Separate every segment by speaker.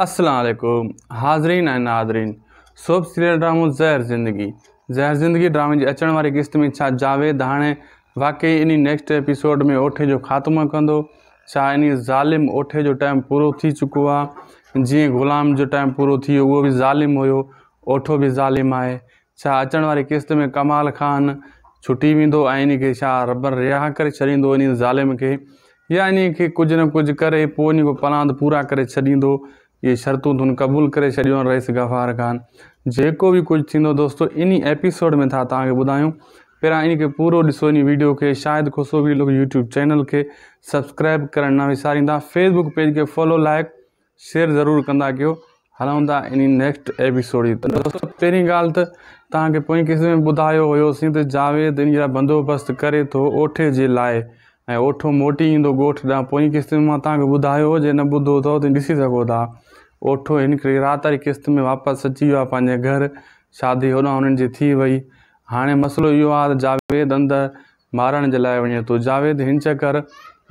Speaker 1: السلام عليڪم حاضرين ۽ ناظرين سوڀ سيريل ڊرامو زهر زندگي زهر زندگي ڊرامي جي اچڻ واري قسط ۾ ڇا جاويد هاڻي واقعي انهي نيڪسٽ ايپيسوڊ ۾ اوٺي جو خاتمو ڪندو ڇا انهي ظالم اوٺي جو ٽائيم پورو ٿي چڪو آ جيئن غلام جو ٽائيم پورو ٿي ويو اهو به ظالم هيو اوٺو به ظالم آهي ڇا اچڻ واري قسط ۾ ڪمال خان ڇٽي ويندو ۽ انهي کي ڇا ربر رهاء ڪري ڇڏيندو انهي ظالم کي يا انهي کي ڪجهه نه ڪجهه ڪري پوء انهي جا پلاند پورا ڪري ڇڏيندو اهي شرطون تون قبول ڪري ڇڏيون رئيس غفار خان جيڪو به ڪجهه ٿيندو دوستو انهي ايپيسوڊ ۾ ٿا توهان کي ٻڌايون پهريان انهي کي پورو ڏسو انهي ويڊيو کي Shahid Khusro vlog YouTube channel کي سبسڪرائب ڪرڻ نه وساريندا فيسبوڪ پيج کي فالو لائڪ شيئر ضرور ڪندا ڪيو هلون ٿا انهي نيڪسٽ ايپيسوڊ جي طرف دوستو پهرين ڳالهه ته توهان کي پوئين قسط ۾ ٻڌايو هيو سين ته جاويد ان جا بندوبست ڪري ٿو اوٺي جي لاء ۽ اوٺو موٽي ايندو ڳوٺ ڏانهن پوئين قسط ۾ مان توهان کي ٻڌايو هو جي نه ٻڌو اٿو ته ڏسي سگهو ٿا اوٺو هڪڙي رات واري قسط ۾ واپس اچي ويو آهي پنهنجي گهر شادي هوڏانهن انهن جي ٿي وئي هاڻي مسئلو اهو آهي ته جاويد اندر مارڻ جي لاء وڃي ٿو جاويد هن چڪر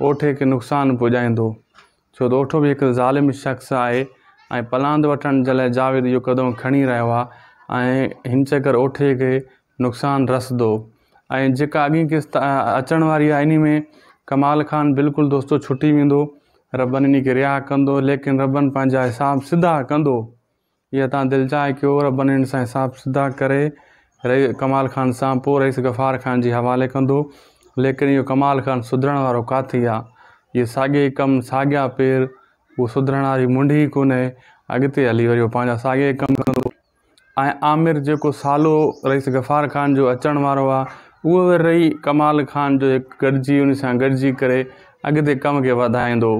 Speaker 1: اوٺي کي نقصان پڄائيندو. ڇو ته اوٺو به هڪ ظالم شخص آهي ۽ پلاند وٺڻ جي لاء جاويد اهو قدم کڻي رهيو آهي ۽ هن چڪر اوٺي کي نقصان رسندو ۽ جيڪا اڳين قسط اچڻ واري آهي انهي ۾ ڪمال خان بلڪل دوستو ڇٽي ويندو ربن انهي کي رها ڪندو ليڪن ربن پنهنجا حساب سڌا ڪندو. يا تان دل چاهي ڪيو رب نيڻ سان حساب سڌا ڪري رئي ڪمال خان سان پو رئيس غفار خان جي حوالي ڪندو ليڪن اهو ڪمال خان سڌرڻ وارو ڪاٿي آ جي ساڳي ڪم ساڳيا پير اهو سڌرڻ واري منڍ ئي ڪونهي اڳتي هلي وري اهو پنهنجا ساڳي ڪم ڪندو ۽ عامر جيڪو سالو رئيس غفار خان جو اچڻ وارو آ اهو وري رئي ڪمال خان جو هڪ گڏجي ان سان گڏجي ڪري اڳتي ڪم کي وڌائيندو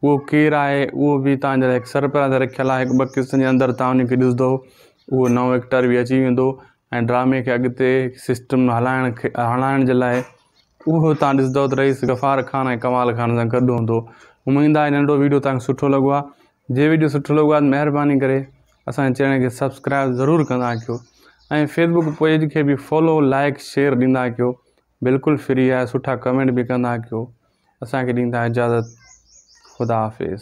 Speaker 1: اهو ڪير آهي اهو به توهان جي لاء هڪ سرپرائز رکيل آهي هڪ ٻه قسطن جي اندر توهان ان کي ڏسندو اهو نئون ايڪٽر به اچي ويندو ۽ ڊرامي کي اڳتي سسٽم ۾ هلائڻ کي هلائڻ جي لاء اهو توهان ڏسندو ته رئيس غفار خان ۽ ڪمال خان سان گڏ هوندو اميد آهي ننڍو ويڊيو توهان کي سٺو لڳو آهي جي ويڊيو سٺو لڳو آهي مهرباني ڪري اسان چينل کي سبسڪرائب ضرور ڪندا ڪيو ۽ فيسبوڪ پيج کي به فالو لائڪ شيئر ڏيندا ڪيو بلڪل فري آهي سٺا ڪمينٽ به ڪندا ڪيو اسان کي ڏيندا اجازت خدا حافظ.